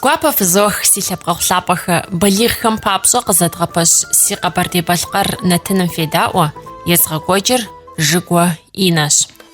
Гуапэ фызох си лъэпкъэгъу лъапӏэхэ балигъхэм папщӏэ къызэдгъэпэщ си Къэбэрдей-Балъкъэр нэтыным федаӏуэ, езыгъэкӏуэкӏыр Жыгуэ Инэщ.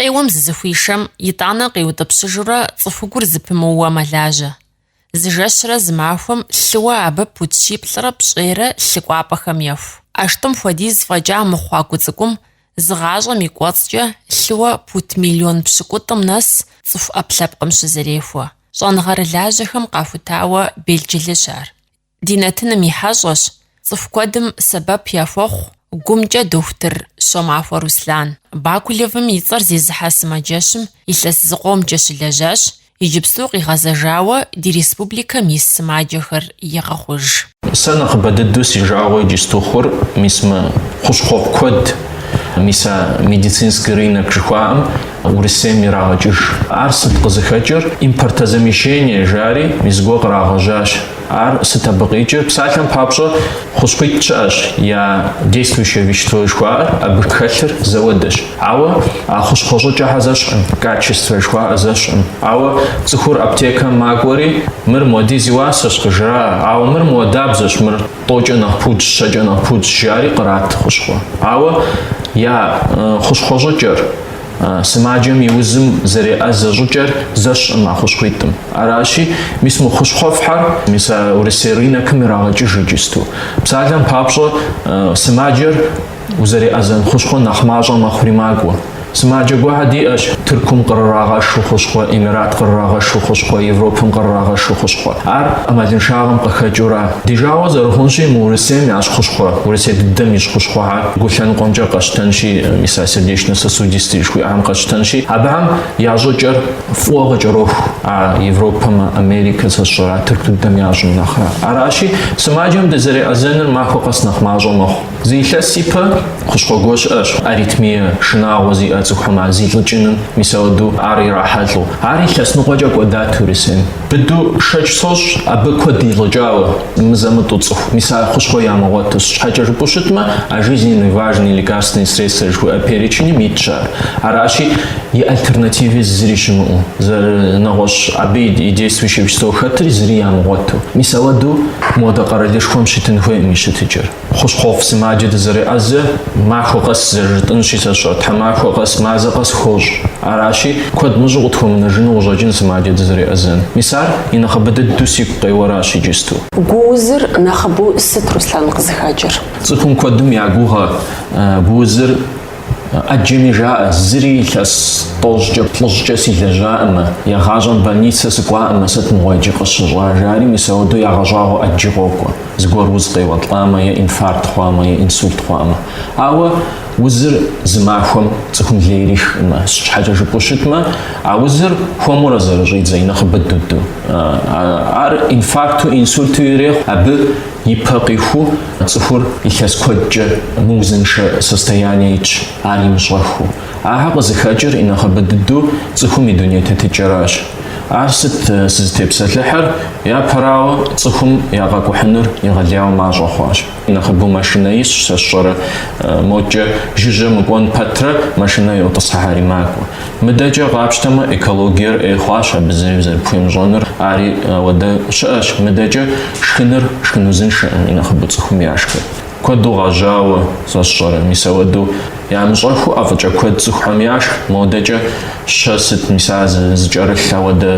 Къеуэм зызыхуишэм итӏанэ къиутӏыпщыжурэ цӏыху гур зыпымыууэ мэлажьэ. Зы жэщрэ зы махуэм лъыуэ абы пут щиплӏрэ пщӏейрэ лъы кӏуапӏэхэм еху. ӏэштӏым хуэдиз фӏэкӏа мыхъуа гу цӏыкӏум зы гъащӏэм и кӏуэцӏкӏэ лъыуэ пут миллион пщыкӏутӏым нэс цӏыху ӏэпкълъэпкъым щызэрехуэ, щӏэныгъэрылажьэхэм къахутауэ белджылыщ ар. Ди нэтыным и хьэщӏэщ, цӏыху куэдым сэбэп яхуэхъу гумкӏэ дохутыр Щомахуэ Руслан. Бакулевым и цӏэр зезыхьэ сымаджэщым илъэс зыкъомкӏэ щылэжьащ, иджыпсту къигъэзэжауэ ди республикэм ис сымаджэхэр егъэхъуж. Сэ нэхъыбэ дыдэу си жагъуэ иджысту хъур мис мы хущхъуэфӏ куэд, мис а медицинский рынок жыхуаӏэм Урысейм ирагъэкӏыж. Ар сыт къызыхэкӏыр? Импортозамещение, жари, зыгуэ кърагъэжьащ. Ар сыт абы къикӏыр? Псалъэм папщӏэ, хущхъуитӏ щыӏэщ я действующее вещество жыхуаӏэр, абы хэлъыр зэуэдэщ. Ауэ а хущхъуэ щӏыкӏэхэр зэщхькъым, качество жыхуаӏэр зэщхькъым. Ауэ цӏыхур аптекэм макӏуэри, мыр мыуэдиз и уасэщ, къыжраӏэ, ауэ мыр мыуэдабзэщ, мыр тӏокӏэ нэхъ пудщ, щэкӏэ нэхъ пудщ, жари кърат хущхъуэ. Ауэ я хущхъуэ щӏыкӏэр. Сымаджэм и узым зэреӏэзэ щӏыкӏэр зэщхькъым а хущхъуитӏым. Аращи, мис мы хущхъуэфӏхьэр мис а Урысей рынокым ирагъэкӏыж иджысту. Псалъэм папщӏэ, сымаджэр узэреӏэзэн хущхъуэ нэхъ мащӏэ мэхъури макӏуэ. Сымаджэ гуэхьэ диӏэщ Тыркум къырырагъэшу хущхъуэ, Эмират къырырагъэшу хущхъуэ, Европэм къырырагъэшу хущхъуэ. Ар ӏэмалыншагъэм къыхэкӏыура? Ди жагъуэ зэрыхъунщи, мы Урысейм ящӏ хущхъуэ, Урысей дыдэм ищӏ хущхъуэхьэр гу лъэныкъуэмкӏэ къэсщтэнщи, мис а сердечно-сосудистые жыхуиӏэхьэм къэсщтэнщи, абыхэм я щӏыкӏэр фӏыуэ къыкӏэроху а Европэм, Америкэ сэ сщӏэра, Тырку дыдэм ящӏым нэхърэ. Аращи, сымаджэм дызэреӏэзэныр махуэ къэс нэхъ мащӏэ мэхъу. Зы илъэс ипэ хущхъуэ гуэ щыӏэщ аритмие шынагъуэ зиӏэ цӏыхухэм а зилӏыкӏыным, мис ауэдэу ар ирахьэлӏэу. Ар илъэс ныкъуэкӏэ кӏуэдат Урысейм. Быду шэч сощӏ абы куэд илӏыкӏауэ, мызэ-мытӏу цӏыху, мис ар хущхъуэ ямыгъуэту. Сыт щхьэкӏэ жыпӏэу щытмэ, а жизненно важные лекарственные средства жыхуиӏэ переченым итщ ар. Аращи, и альтернативи зыри щымыӏэу, нэгъуэщӏ абы и действующее вещество хэтри зыри ямыгъуэту. Мис ауэдэу модэ къэралышхуэм щытын хуейкъым и щытыкӏэр. Хущхъуэфӏ сымаджэ дызэреӏэзэ, махуэ къэс зэрыжытӏэнщи, сэ сщӏэрэ, тхьэмахуэ къэс, мазэ къэс хощӏ. Аращи, куэд мыщӏу къытхуэмынэжыну къыщӏэкӏын сымаджэ дызэреӏэзэн. Мис ар и нэхъыбэ дыдэу сигу къеуэращ иджысту. Гуузыр нэхъыбэу сыт, Руслан, къызыхэкӏыр? Цӏыхум куэдым я гугъэ гуузыр. Ӏэджэми жаӏэ, зыри илъэс тӏощӏкӏэ, плӏыщӏкӏэ силэжьакъымэ, егъащӏэм больницэ сыкӏуакъымэ, сыт мыгъуэ иджы къысщыщӏа, жари мис ауэдэу ягъэщӏагъуэ ӏэджи къокӏуэ, зыгуэр уз къеуэлӏамэ е инфаркт хъуамэ е инсульт хъуамэ. Ауэ узыр зы махуэм цӏыхум лей ирихкъымэ, сыт щхьэкӏэ жыпӏэу щытмэ, а узыр хуэмурэ зэрыщӏидзэ, и нэхъыбэ дыдэу. Ар инфаркту, инсульту ирехъу, абы ипэ къихуэу цӏыхур илъэс куэдкӏэ мыузыншэ состояние итщ, ар имыщӏэххэу. Ахэр къызыхэкӏыр и нэхъыбэ дыдэу цӏыхум и дуней тетыкӏэращ. Ар сыт сызытепсэлъыхьыр, япэрауэ, цӏыхум я къэкӏухьыныр егъэлеяуэ мащӏэ хъуащ. И нэхъыбэу машинэ исщ, сэ сщӏэрэ, мокӏэ жыжьэ мыкӏуэн пэтрэ машинэ йотӏысхьэхьэри макӏуэ. Мыдэкӏэ къапщтэмэ, экологиер ӏей хъуащ абы зыри зэрыпхуемыщӏэнур. Ари ауэдэ щыӏэщ. Мыдэкӏэ шхыныр шхын узыншэкъым, и нэхъыбэу цӏыхум яшхыр. Куэду гъэжьауэ, сэ сщӏэрэ, мис ауэдэу ямыщӏэххэу ӏэфӏыкӏэ куэд цӏыхухэм яшх. Модэкӏэ щэ сыт, мис ар зыкӏэрылъ ауэдэ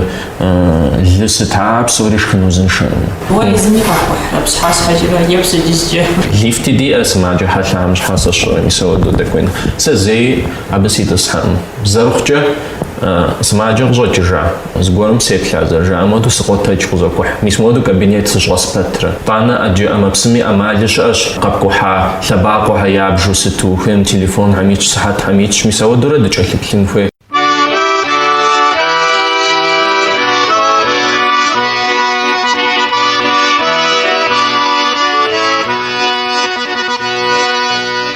лы сыт, а псори шхын узыншэкъым. Уэ езыми къэпкӏухьрэ пщыхьэщхьэкӏэ е пщэдджыжькӏэ? Лифти диӏэ сымаджэ хьэлъэм щхьэ, сэ сщӏэрэ, мис ауэдэу дэкӏуену. Сэ зэи абы ситӏысхьэкъым. Зэрыхъукӏэ сымаджэ къыщӏэкӏыжа, зыгуэрым сеплъа зэрыжаӏэм хуэдэу сыкъотэдж къызокӏухь. Мис моуэдэу кабинет сыщӏэс пэтрэ. Тӏанэ ӏэджэ ӏэмэпсыми ӏэмали щыӏэщ, къэпкӏухьа лъэбакъуэхэр ябжу сыту ухуейм телефонхэм итщ, сыхьэтхэм итщ, мис ауэдурэ дыкӏэлъыплъын хуей.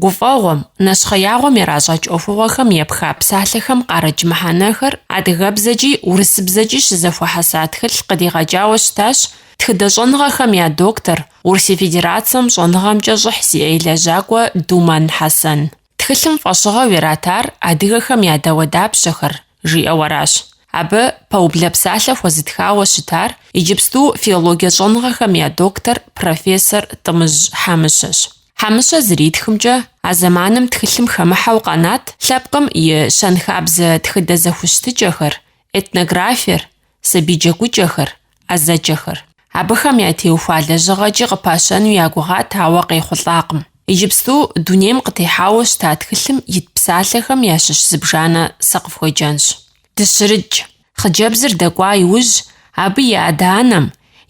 Гуфӏэгъуэм, нэщхъеягъуэм иращӏэкӏ ӏуэхугъуэхэм епха псалъэхэм къарыкӏ мыхьэнэхэр адыгэбзэкӏи урысыбзэкӏи щызэхуэхьэса тхылъ къыдигъэкӏауэ щытащ Тхыдэ щӏэныгъэхэм я доктор, Урысей Федерацэм щӏэныгъэмкӏэ щӏыхь зиӏэ и лэжьакӏуэ Думэн Хьэсэн. Тхылъым фӏэщыгъэу иратар адыгэхэм я дауэдапщэхэр, жиӏэу аращ. Абы пэублэ псалъэ хуэзытхауэ щытар иджыпсту филологие щӏэныгъэхэм я доктор, профессор Тӏымыжь Хьэмыщэщ. Хьэмыщэ зритхымкӏэ, а зэманым тхылъым хэмыхьэу къэнат лъэпкъым и щэнхабзэ тхыдэ зэхущытыкӏэхэр, этнографиер, сабий джэгукӏэхэр, ӏэзэкӏэхэр. Абыхэм ятеухуа лэжьыгъэкӏи къыпащэну я гугъат, ауэ къехъулӏакъым. Иджыпсту дунейм къытехьауэ щыта тхылъым ит псалъэхэм ящыщ зыбжанэ сэ къыфхуеджэнщ. Дыщрыкӏ. Хъыджэбзыр дэкӏуа иужь, абы и адэ-анэм,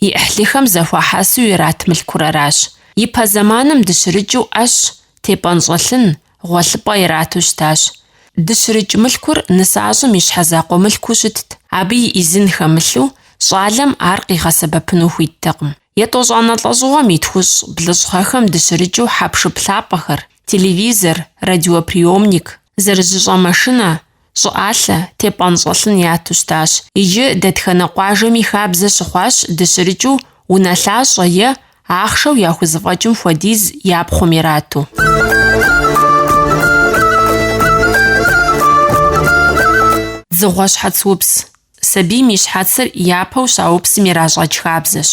и ӏыхьлыхэм зэхуахьэсу ират мылъкур аращ. Ипэ зэманым дыщрыкӏыу ӏэщ, тепӏэнщӏэлъын, Гъуэлъыпӏэ ирату щытащ. Дыщрыкӏ мылъкур нысащӏэм и щхьэ закъуэ мылъкуу щытт, абы и ӏизын хэмылъу, щӏалэм ар къигъэсэбэпыну хуиттэкъым. Етӏощӏанэ лӏэщӏыгъуэм и тхущӏ-блыщӏ гъэхэм дыщрыкӏыу хьэпшып лъапӏэхэр, телевизор, радиоприемник, зэрыжьыщӏэ машинэ, Щӏыӏалъэ, тепӏэнщӏэлъын яту щытащ. Иджы дэтхэнэ къуажэми хабзэ щыхъуащ дыщырыкӏыу унэлъащӏэ е ахъшэу яхузэфӏэкӏым хуэдиз я пхъум ирату. Дзыгъуэ щхьэц упс. Сабийм и щхьэцыр япэу щаупсым иращӏэкӏ хабзэщ.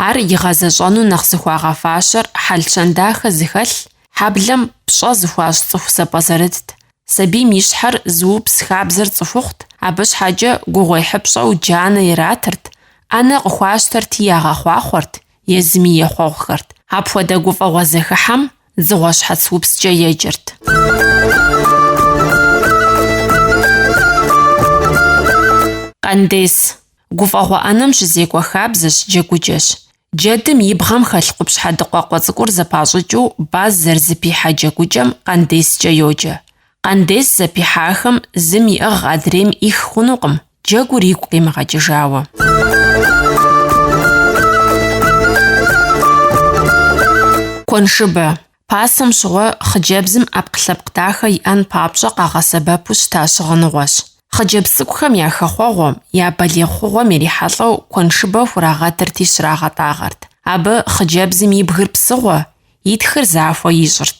Ар игъэзэщӏэну нэхъ зыхуагъэфащэр хьэл-щэн дахэ зыхэлъ, хьэблэм пщӏэ зыхуащӏ цӏыху зэпӏэзэрытт. Сабийм и щхьэр зыупс хабзэр цӏыхухъут, абы щхьэкӏэ гугъуехьыпщӏэу джанэ иратырт, ӏэнэ къыхуащтэрти ягъэхъуахъуэрт, езыми ехъуэхъухэрт. Апхуэдэ гуфӏэгъуэ зэхыхьэм Дзыгъуэ щхьэц упскӏэ еджэрт. Къандес. Гуфӏэгъуэ ӏэнэм щызекӏуэ хабзэщ, джэгукӏэщ. Джэдым и бгъэм хэлъ къупщхьэ дыкъуакъуэ цӏыкӏур зэпащӏыкӏыу баз зэрызэпихьэ джэгукӏэм къандескӏэ йоджэ. Къандес зэпихьахэм зым иӏыгъ адрейм ӏих хъунукъым, джэгур игу къимыгъэкӏыжауэ. Куэншыбэ. Пасэм щыгъуэ хъыджэбзым ӏэпкълъэпкъ дахэ иӏэн папщӏэ къагъэсэбэпу щыта щыгъыныгъуэщ. Хъыджэбз цӏыкӏухэм я хэхъуэгъуэм, я балигъ хъугъуэм ирихьэлӏэу куэншыбэ хурагъэдырти щрагъэтӏагъэрт. Абы хъыджэбзым и бгыр псыгъуэ, и тхыр захуэ ищӏырт.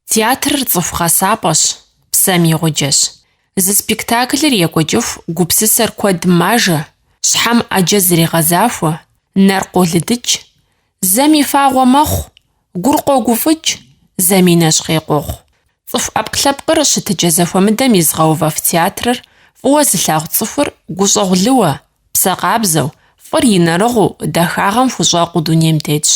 Театрыр цӏыху гъэсапӏэщ, псэм и гъуджэщ. Зы спектаклыр екӏуэкӏыху гупсысэр куэдым мажэ, щхьэм ӏэджэ зрегъэзахуэ, нэр къолыдыкӏ, зэми фагъуэ мэхъу, гур къогуфӏыкӏ, зэми нэщхъей къохъу. Цӏыху ӏэпкълъэпкъыр щытыкӏэ зэхуэмыдэм изгъэувэф театрыр фӏыуэ зылъагъу цӏыхур гущӏэгъулыуэ, Псэ къабзэу, фӏыр и нэрыгъыу, дахагъэм хущӏэкъуу дунейм тетщ.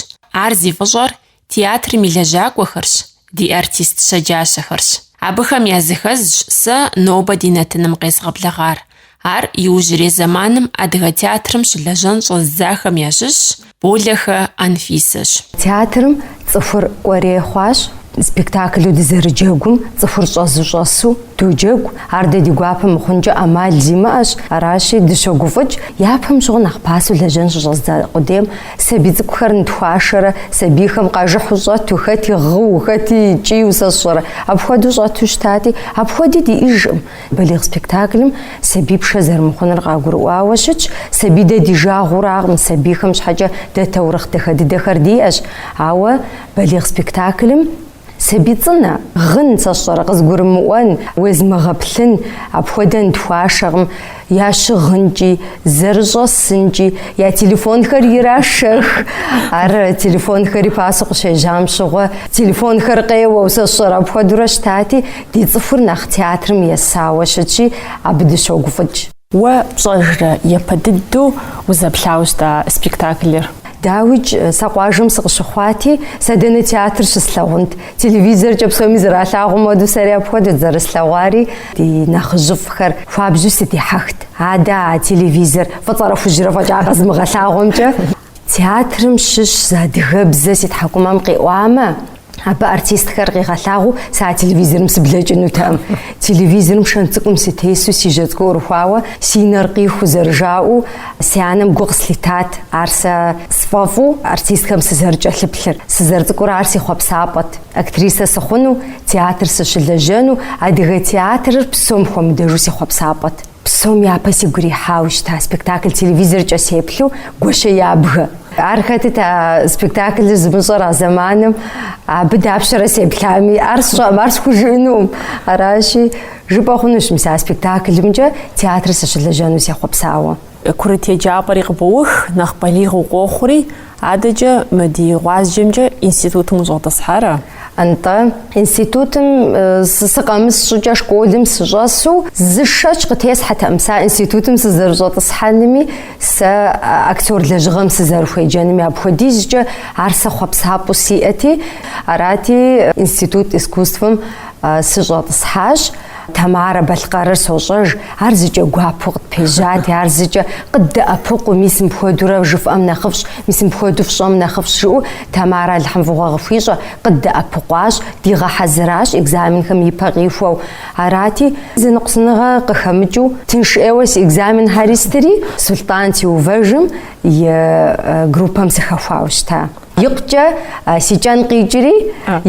Ар зи фӏыщӏэр театрым и лэжьакӏуэхэрщ, ди артист щэджащэхэрщ. Абыхэм языхэзщ сэ нобэ ди нэтыным къезгъэблэгъар. Ар иужьрей зэманым адыгэ театрым щылэжьэн щӏэздзахэм ящыщщ, Болэхэ Анфисэщ. Театрым цӏыхур кӏуэрей хъуащ. Спектаклу дызэрыджэгум цӏыхур щӏэзу щӏэсу доджэгу. Ар дэ ди гуапэ мыхъункӏэ ӏэмал зимыӏэщ. Аращи, дыщогуфӏыкӏ япэм щыгъуэ нэхъ пасэу лэжьэн щыщӏэздза къудейм сэбий цӏыкӏухэр нытхуашэрэ сабийхэм къажыхьу щӏэту, хэти гъыу, хэти кӏийу сэ сщӏэрэ, апхуэдэу щӏэту щытати, апхуэди диӏэжкъым. Балигъ спектаклым сабий пшэ зэрымыхъунур къагурыӏуауэ щытщ. Сабий дэ ди жагъуэракъым, сабийхэм щхьэкӏэ дэ таурыхъ дахэ дыдэхэр диӏэщ. Ауэ балигъ спектаклым сабий цӏынэ, гъын, сэ сщӏэрэ, къызгурымыӏуэн, уезмыгъэплъын, апхуэдэ нытхуашэкъым, я щыгъынкӏи, зэрыщӏэсынкӏи, я телефонхэр ирашэх. Ар телефонхэри пасэу къыщежьам щыгъуэ, телефонхэр къеуэу, сэ сщӏэрэ, апхуэдэурэ щытати, Ди цӏыхур нэхъ театрым есауэ щытщи, абы дыщогуфӏыкӏ. Уэ пщӏэжрэ япэ дыдэу узэплъауэ щыта спектаклыр? Дауикӏ, сэ къуажэм сыкъыщыхъуати, сэ дэнэ театр щыслъагъунт? Телевизоркӏэ псоми зэралъагъум хуэдэу сэри апхуэдэт зэрыслъэгъуари. Ди нэхъыжьыфӏхэр хуабжьу сыдихьэхт. Адэ а телевизор фӏыцӏэрэ хужьрэ фӏэкӏа къэзмыгъэлъагъуэмкӏэ? Театрым щыщ зы адыгэбзэ си тхьэкӏумэм къиӏуамэ, абы артистхэр къигъэлъагъуу сэ а телевизорым сыблэкӏынутэкъым. Телевизорым шэнт цӏыкӏум сытесу си жьэ цӏыкӏур ӏурыхуауэ, си нэр къиху зэрыжаӏэу си анэм гу къыслъитат, ар сэ сфӏэфӏу артистхэм сызэрыкӏэлъыплъыр. Сызэрыцӏыкӏурэ ар си хъуэпсапӏэт, актрисэ сыхъуну, театр сыщылэжьэну, адыгэ театрыр псом хуэмыдэжу си хъуэпсапӏэт. Псом япэ сигу ирихьауэ щыта спектакль телевизоркӏэ сеплъу Гуащэ ябгэ. Ар хэтыт а спектаклыр зымыщӏэр а зэманым, абы дапщэрэ сеплъами, ар сщӏэӏым, ар схужыӏэнукъым. Аращи, жыпӏэ хъунущ мис а спектаклымкӏэ театр сыщылэжьэну сехъуэпсауэ. Курыт еджапӏэри къыбоух, нэхъ балигъ укъохъури, Адэкӏэ мы ди гъуазджэмкӏэ институтым ущӏотӏысхьэ, ара? Нтӏэ. Институтым сыкъэмыс щӏыкӏэ школым сыщӏэсу зы шэч къытесхьэтэкъым сэ а институтым сызэрыщӏэтӏысхьэнми, сэ актер лэжьыгъэм сызэрыхуеджэнми. Апхуэдизкӏэ ар сэ хъуэпсапӏэу сиӏэти, арати институт искусствэм сыщӏэтӏысхьащ. Тамарэ Балъкъэрыр сощӏэж, ар зыкӏэ гуапэу къытпежьати, ар зыкӏэ къыддэӏэпыкъу, мис мыпхуэдурэ жыфӏэм нэхъыфӏщ, мис мыпхуэду фщӏэм нэхъыфӏщ жыӏэу Тамарэ Алыхьым фӏыгъуэ къыхуищӏэ, къыддэӏэпыкъуащ, дигъэхьэзыращ экзаменхэм и пэ къихуэу. Арати, зы ныкъусаныгъэ къыхэмыкӏыу, тынш ӏейуэ си экзаменхэри стыри, Сулътӏан Теувэжым и группэм сыхэхуауэ щыта. Икъукӏэ си кӏэн къикӏри,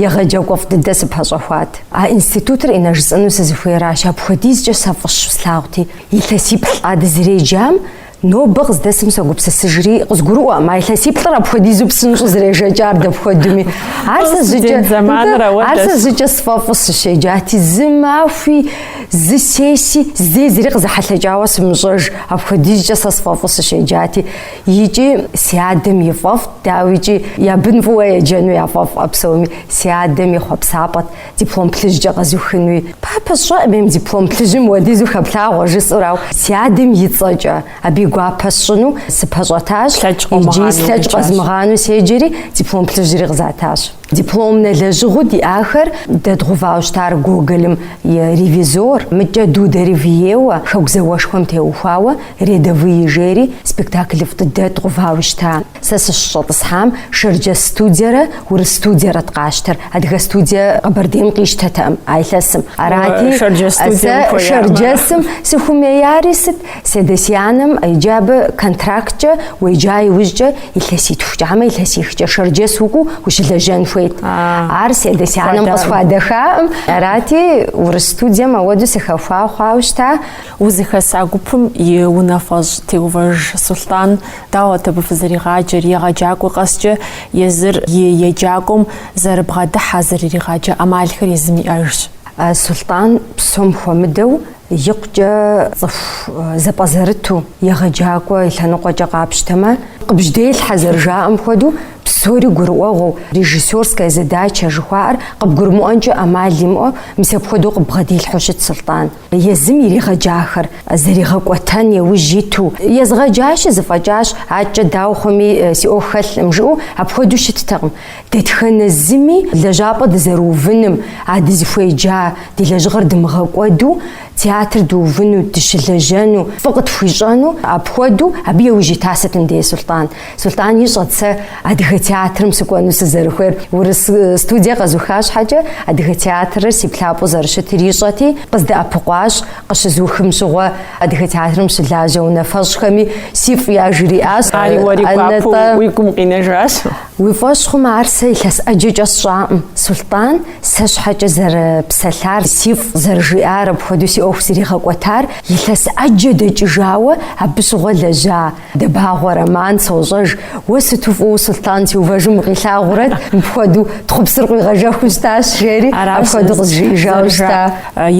егъэджакӏуэфӏ дыдэ сыпэщӏэхуат. А институтыр инэ жысӏэну сызыхуейращ, апхуэдизкӏэ сэ фӏыщ слъагъути. Илъэсиплӏ а дызреджам нобэ къыздэсым согупсысыжри, къызгурыӏуэӏым а илъэсиплӏыр апхуэдизу псынщӏу зэрежэкӏар дапхуэдуми. Ар сэ зыкӏэ сфӏэфӏу сыщеджати, зы махуи, зы сесси, зэи зыри къызэхьэлъэкӏауэ сымыщӏэж, апхуэдизкӏэ сэ сфӏэфӏу сыщеджати. Икӏи си адэм и фӏэфӏт, дауикӏи, я бын фӏыуэ еджэну яфӏэфӏӏэ псоми. Си адэм и хъуэпсапӏэт диплом плъыжькӏэ къэзухынуи. Папэ сщӏэӏым ем диплом плъыжьым уэдизу хэплъагъуэ жысӏэу, ауэ си адэм и цӏэкӏэ абы и гуапэ сщӏыну сыпэщӏэтащ, иджы слъэкӏ къэзмыгъанэу седжэри, диплом плъыжьри къызатащ. Дипломнэ лэжьыгъэу диӏахэр дэ дгъувауэ щытар Гоголым и Ревизор, мыкӏэ Дударев ейуэ, Хэку зауэшхуэм теухуауэ Рядовые жери спектаклыфӏ дыдэ дгъувауэ щыта. Сэ сыщыщӏэтӏысхьам Шэрджэс студиерэ Урыс студиерэт къащтэр, Адыгэ студие Къэбэрдейм къищтэтэӏым а илъэсым. Арати, сэ Шэрджэсым сыхумеяри сыт? Си адэ си анэм иджы абы контракткӏэ уеджа иужькӏэ илъэситхукӏэ хьэмэ илъэсихкӏэ Шэрджэс укӏуу ущылэжьэн хуейт. Ар си адэ си анэм къысхуадэхаӏым. Арати, урыс студием ауэду сыхэхуа хъуауэ щыта. Узыхэса гупым и унафэщӏ Теувэж Сулътӏан дауэт абы фызэригъаджэр? Егъэджакӏуэ къэскӏэ езыр и еджакӏуэм зэрыбгъэдыхьэ, зэрыригъаджэ ӏэмалхэр езым иӏэжщ. Сулътӏан псом хуэмыдэу икъукӏэ цӏыху зэпӏэзэрыту, егъэджакӏуэ и лъэныкъуэкӏэ къапщтэмэ, къыбжьэделъхьэ зэрыжаӏэм хуэдэу, псори гурыӏуэгъуэу, режиссерская задача жыхуаӏэр къыбгурымыӏуэнкӏэ ӏэмал имыӏэу, мис апхуэдэу къыббгъэдилъхьэу щыт Сулътӏан. Езым иригъэджахэр зэригъэкӏуэтэн яужь иту, езгъэджащи, зэфӏэкӏащ, адэкӏэ дауэ хъуми, си ӏуэху хэлъкъым, жиӏэу апхуэдэу щыттэкъым. Дэтхэнэ зыми лэжьапӏэ дызэрыувыным, а дызыхуеджа ди лэжьыгъэр дымыгъэкӏуэду театр дыувыну, дыщылэжьэну, фӏы къытхуищӏэну, апхуэдэу абы еужь ита сытым дей Сулътӏан. Сулътӏан ищӏэт сэ Адыгэ театрым сыкӏуэну сызэрыхуейр. Урыс студие къэзуха щхьэкӏэ Адыгэ театрыр си плъапӏэу зэрыщытыр ищӏэти, къыздэӏэпыкъуащ, къыщызухым щыгъуэ Адыгэ театрым щылажьэ унафэщӏхэми си фӏ яжриӏащ. Ари уэри гуапэу уи гум къинэжащ? Уи фӏэщ хъумэ, ар сэ илъэс ӏэджэкӏэ сщӏаӏым, Сулътӏан, сэ щхьэкӏэ зэрыпсэлъар, си фӏ зэрыжиӏар, апхуэдэу си ӏуэху зригъэкӏуэтар илъэс ӏэджэ дэкӏыжауэ абы щыгъуэ лэжьа Дэбагъуэ Роман, сощӏэж, уэ сыту фӏыуэ Сулътӏан Теувэжым укъилъагъурэт, мыпхуэдэу тхъупсыр къуигъэжэхыу щытащ, жери апхуэдэу къызжиӏэжауэ щыта.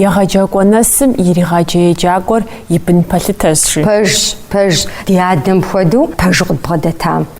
Егъэджакӏуэ нэсым иригъаджэ еджакӏуэр и бын пэлъытэщ, жи. Пэжщ, пэжщ, ди адэм хуэдэу пэжу къыдбгъэдэтам.